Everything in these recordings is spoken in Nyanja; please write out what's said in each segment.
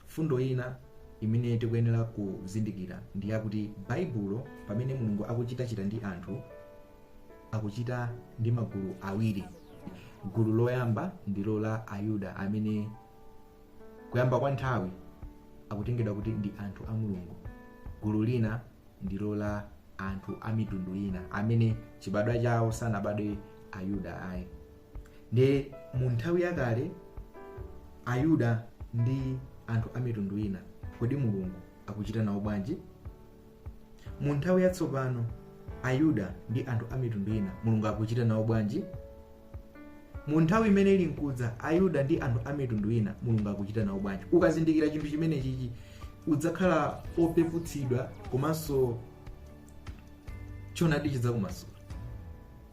Mfundo ina imene tikuyenera kuzindikira ndi yakuti Baibulo, pamene Mulungu akuchitachita ndi anthu, akuchita ndi magulu awiri. Gulu loyamba ndilo la Ayuda amene kuyamba kwa nthawi akutengedwa kuti ndi anthu a Mulungu. Gulu lina ndilo la anthu a mitundu ina amene chibadwa chawo sanabadwe Ayuda ayi. ndiye mu nthawi yakale ayuda ndi anthu a mitundu ina kodi mulungu akuchita nawo bwanji mu nthawi yatsopano ayuda ndi anthu a mitundu ina mulungu akuchita nawo bwanji mu nthawi imene ili nkudza ayuda ndi anthu a mitundu ina mulungu akuchita nawo bwanji ukazindikira chinthu chimenechichi udzakhala opeputsidwa komanso choonadi chidzakumasula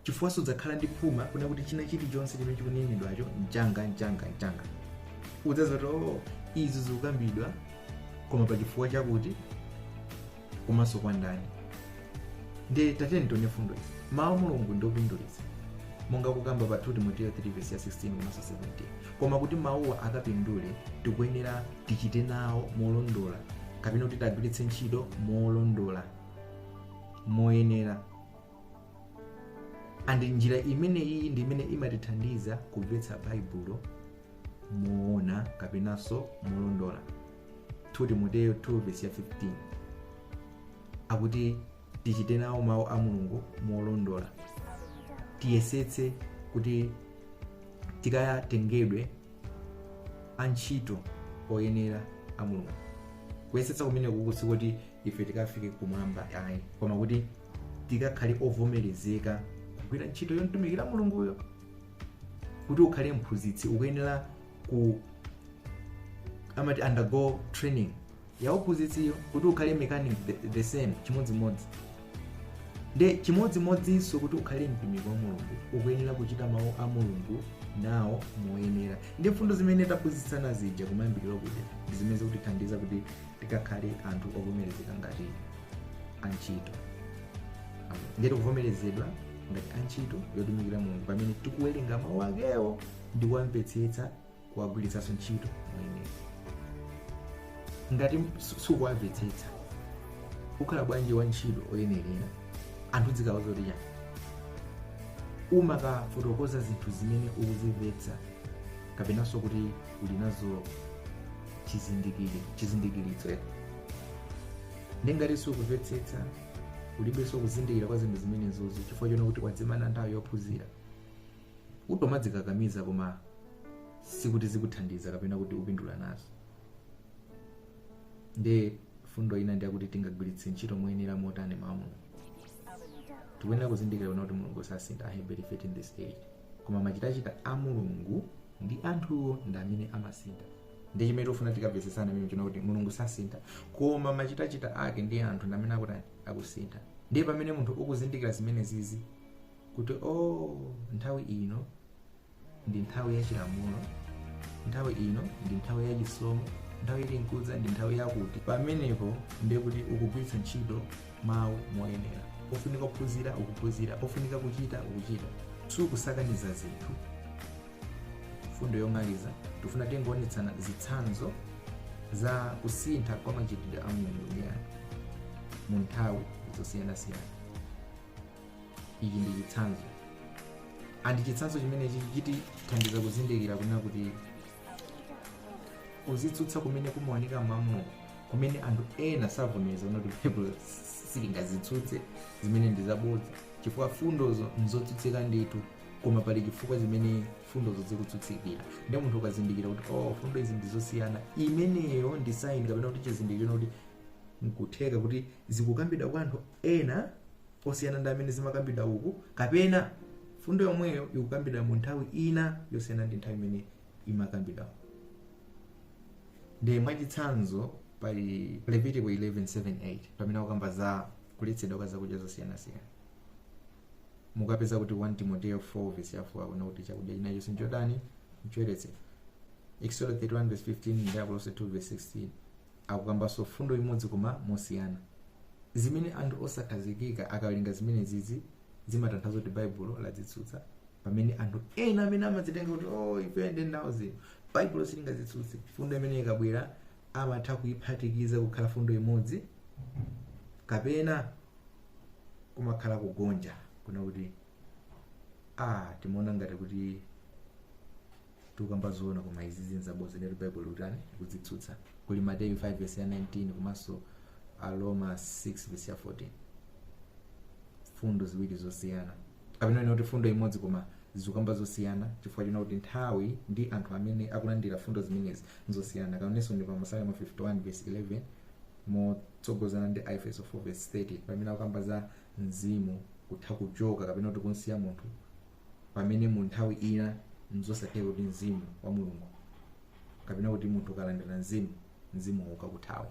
chifukwa sudzakhala ndi phuma kuna kuti china chilichonse chimene chikunenedwacho n'changa n'changa n'changa udzadziwa kuti oh, izi zikukambidwa koma pa chifukwa chakuti komanso kwa ndani nde tatiyeni tione fundo izi mawu a mulungu ndi opindulitsa monga kukamba pa 2 timoteyo 3 vesi ya 16 komanso 17 koma kuti mawuwa akapindule tikuyenera tichite nawo molondola kapena kuti tiwagwiritse ntchito molondola moyenera and njira imene iyi ndi imene imatithandiza kumvetsa baibulo moona kapenanso molondola 2 timoteyo 2 vesi ya 15 akuti tichite nawo mawu a mulungu molondola tiyesetse kuti tikatengedwe antchito oyenera a mulungu kuyesetsa kumeneku si kuti ife tikafike kumwamba ayi koma kuti tikakhale ovomerezeka kugwira ntchito yomtumikira mulunguyo kuti ukhale mphunzitsi ukuyenera ku amati undergo training ya uphunzitsiyo kuti ukhale mechanic the, the same chimodzimodzi nde chimodzimodzinso kuti ukhale mtumiki wa mulungu ukuyenera kuchita mawu a mulungu nawo moyenera ndi mfundo zimene taphunzitsana zija kumayambiriro kuja ndi zimene zikutithandiza kuti tikakhale anthu ovomerezeka ngati antchito ndiye tikuvomerezedwa ngati antchito yotumikira mulungu pamene tikuwerenga mawu akewo ndi kuwamvetsetsa kuwagwiritsanso ntchito moyenera ngati sukuwamvetsetsa ukhala bwanji wa ntchito oyenerera anthu ukawauza zoti chani umakafotokoza zinthu zimene ukuzimvetsa kapenanso kuti uli nazo chizindikiri chizindikiritso eh. ndiye ngati sukumvetsetsa ulibenso kuzindikira kwa zinthu zimenezozo chifukwa chona kuti wadzimana nthawi yophunzira utomadzikakamiza koma sikuti zikuthandiza kapena kuti upindula nazo ndiye fundo ina ndiyakuti tingagwiritse ntchito moyenera motani mawu a mulungu tikuyenera kuzindikira kuti mulungu sasintha aheberi 13 vesi 8 koma machitachita a mulungu ndi anthuwo ndi amene amasintha ndi chimene tikufuna tikamvetsesane pamene chonena kuti mulungu sasintha koma machitachita ake ndi anthu ndi amene akutani akusintha ndiye pamene munthu ukuzindikira zimene zizi kuti o nthawi ino ndi nthawi ya chilamulo nthawi ino ndi nthawi ya chisomo nthawi ili nkudza ndi nthawi yakuti pamenepo ndiye kuti ukugwiritsa ntchito mawu moyenera ofunika kuphunzira ukuphunzira ofunika kuchita ukuchita sukusakaniza zinthu mfundo yomaliza tifuna tingoonetsana zitsanzo za kusintha kwa machitidwe a mulungu ndi anthu mu nthawi zosiyanasiyana ichi ndi chitsanzo andi chitsanzo chimenechi chitithandiza kuzindikira kunena kuti kudzitsutsa kumene kumaoneka m'mawu a mulungu kumene anthu ena savomereza kuti baibulo silingadzitsutse zimene ndi zabodza chifukwa fundozo nzotsutsika ndithu koma pali chifukwa zimene fundozo zikutsutsikira ndiye munthu ukazindikira kuti oh fundo izi ndizosiyana imeneyo ndi saini kapena kuti chizindikiro kuti nkutheka kuti zikukambidwa kwa anthu ena osiyana ndi amene zimakambidwa uku kapena mfundo yomweyo ikukambidwa mu nthawi ina yosiyana ndi nthawi imene imakambidwa uku ndiye mwachitsanzo pali levitiko 11:7-8 pamene akukamba za kuletsedwa kwa zakudya zosiyanasiyana mukapeza kuti 1 timoteo 4 vesi ya 4 akunena kuti chakudya chinachonse nchotani nchoyeretsedwa exodo 31 vesi 15 ndi akolose 2 vesi 16 akukambanso fundo imodzi koma mosiyana zimene anthu osakhazikika akawerenga zimenezizi zimatanthauza kuti baibulo ladzitsutsa pamene anthu ena amene amadzitenga kuti oh, ife ndi ndawo zino baibulo silingadzitsutse fundo imene ikabwera amatha kuyiphatikiza kukhala fundo imodzi kapena kumakhala kugonja kunena kuti ah timaona ngati kuti tikukamba zoona koma izi zinthu zabodza ndiyatu baibulo likutani likudzitsutsa kuli mateyu 5 vesi ya 19 komanso aroma 6 vesi ya 14 fundo ziwiri zosiyana kapena tinene kuti fundo imodzi koma zikukamba zosiyana chifukwa chonena kuti nthawi ndi anthu amene akulandira fundo zimenezi nzosiyana komanso ndi pa masalimo 51 vesi 11 motsogozana ndi aefeso 4 vesi 30 pamene akukamba za mzimu kutha kuchoka kapena kuti kumusiya munthu pamene mu nthawi ina nzosatheka kuti mzimu wa mulungu kapena kuti munthu ukalandira mzimu mzimu ukakuthawa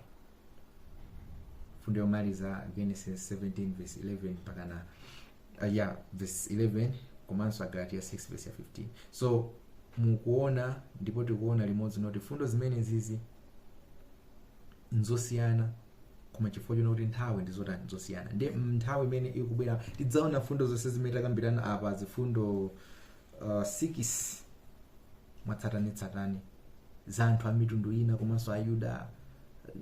fundo yomaliza genesis 17 verse 11 mpakana uh, yeah, verse 11 komanso agalatiya 6 verse ya 15 so mukuona ndipo tikuona limodzi noti fundo zimenezizi nzosiyana koma chifukwa chona kuti nthawi ndi zotani zosiyana ndi nthawi imene ikubwera tidzaona mfundo zonse zimene takambirana apa zifundo uh, sikisi mwatsatanetsatane za anthu a mitundu ina komanso ayuda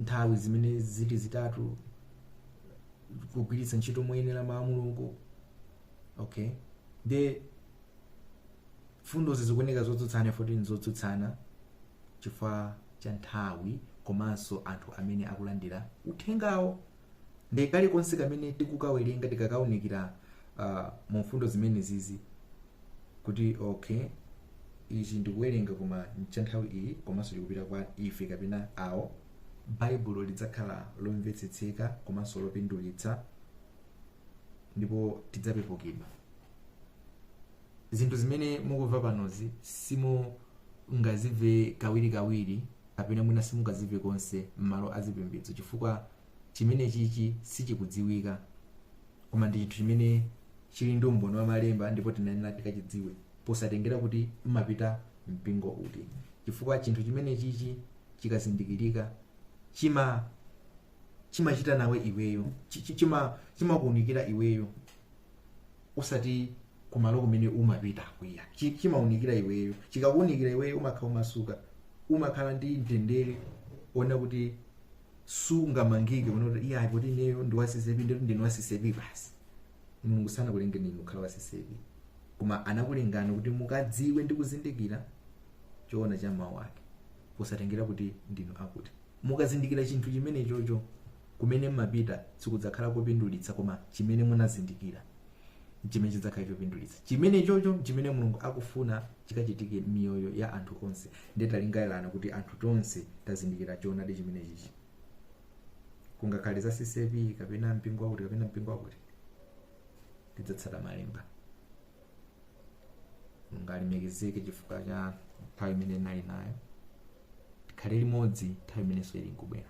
nthawi zimene zili zitatu kugwiritsa ntchito moyenera mawu a mulungu okay ndi fundozi zikuoneka zotsutsana futi zotsutsana chifukwa cha nthawi komanso anthu amene akulandira uthengawo ndi kalikonse kamene tikukawerenga tikakaunikira uh, mu mfundo zimenezizi kuti okay ichi ndikuwerenga koma cha nthawi iyi komanso likupita kwa ife kapena awo baibulo lidzakhala lomvetsetseka komanso lopindulitsa ndipo tidzapepukidwa Zinthu zimene mukumva panozi simungazimve kawirikawiri kapena mwina simungazimve konse m'malo azipembedzo chifukwa chimenechichi sichikudziwika, koma ndi chinthu chimene chili ndi umboni wa Malemba ndipo tinayenera tikachidziwe posatengera kuti mmapita mpingo uti, chifukwa chinthu chimenechichi chikazindikirika chima chimachita nawe iweyo, chi- chi- chima- chimakuunikira iweyo osati kumalo kumene umapita kuya Chi- chimaunikira iweyo chikakuunikira iweyo umakhala omasuka umakhala ndi mtendere ona kuti sungamangike ona kuti iya kuti ineyo ndi wa CCAP ndikuti ndine wa CCAP basi mulungu sanakulengeni inu kukhala wa CCAP koma anakulengani kuti mukadziwe ndi kuzindikira choona cha mawu ake posatengera kuti ndinu akuti mukazindikira chinthu chimenechocho Kumene m'mapita sikudzakhala kopindulitsa, koma chimene munazindikira n'chimene chidzakhala chopindulitsa. Chimenechocho n'chimene Mulungu akufuna chikachitike m'miyoyo ya anthu onse. Ndiye talingalirani kuti anthu tonse tazindikira choonadi chimenechichi. Kungakhale za CCAP kapena mpingo wakuti kapena mpingo wakuti, tidzatsata Malemba. Mulungu alemekezeke chifukwa cha nthawi imene tinali nayo. Tikhale limodzi nthawi imenenso ili nkubwera.